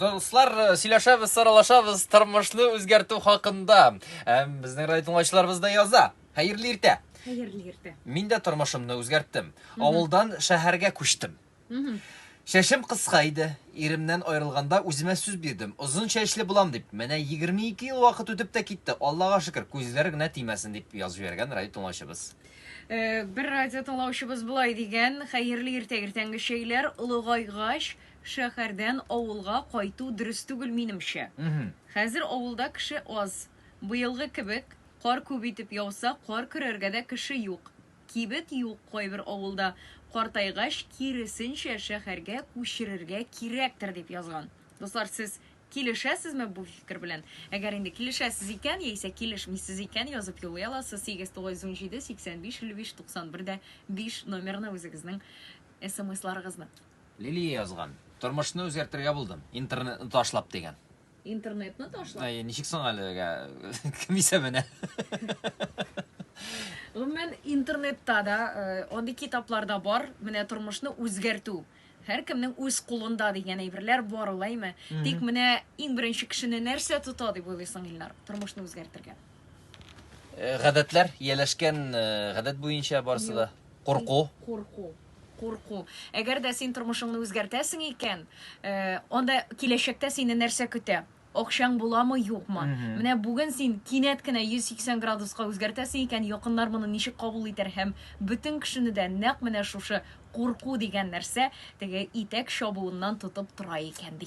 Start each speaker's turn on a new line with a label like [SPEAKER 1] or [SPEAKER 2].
[SPEAKER 1] Дуслар, э, сөйләшәбез, саралашабыз тормышны үзгәртү хакында. Әм безнең райтыңлачларыбыз да яза. Хәерле иртә. Хәерле иртә.
[SPEAKER 2] Мин дә тормышымны
[SPEAKER 1] үзгәрттем. Авылдан шәһәргә күчтем. Шәшем кыска иде. Иремнән аерылганда үземә сүз бирдем. Озын чәчле булам дип. Менә 22 ел вакыт үтеп тә китте. Аллага шөкер, күзләр генә тимәсен дип язып җибәргән райтыңлачларыбыз. Э, бер
[SPEAKER 2] радио тыңлаучыбыз болай дигән, хәерле иртә иртәнге чәйләр олыгайгач, шәһәрдән авылга кайту дөрес түгел минемчә. Хәзер авылда кеше аз. Быелгы кебек кар күп итеп яуса, кар көрәргә дә кеше юк. Кибет юк кайбер авылда. Картайгач, киресенчә шәһәргә күчерергә кирәктер дип язган. Дуслар, сез Килешәсезме бу фикер белән? Әгәр инде килешәсез икән, яисә килешмисез икән, язып юллый аласыз 897855591 дә 5 номерына үзегезнең смсларыгызны. Лилия
[SPEAKER 1] язган. Тормышны үзгәртергә булдым, интернетны ташлап дигән. Интернетны
[SPEAKER 2] ташлап? Әйе, ничек соң әлегә
[SPEAKER 1] кем исәбенә?
[SPEAKER 2] Гомумән, интернетта да, э, андый китаплар да бар, менә тормышны үзгәртү. Һәркемнең үз кулында дигән әйберләр бар ул, әйме? Тик менә иң беренче кешене нәрсә тота дип уйлыйсың, Илнар, тормышны үзгәртергә? Э,
[SPEAKER 1] гадәтләр, ияләшкән э, гадәт буенча барысы да. Курку. Курку.
[SPEAKER 2] Курку. Әгәр дә син тормышыңны үзгәртәсең икән, э, анда киләчәктә сине нәрсә көтә? Акчаң буламы, юкмы? Менә бүген син кинәт кенә 180 градуска үзгәртәсең икән, якыннар моны ничек кабул итәр һәм бөтен кешене дә нәкъ менә шушы курку дигән нәрсә теге итәк чабуыннан тотып тора икән ди.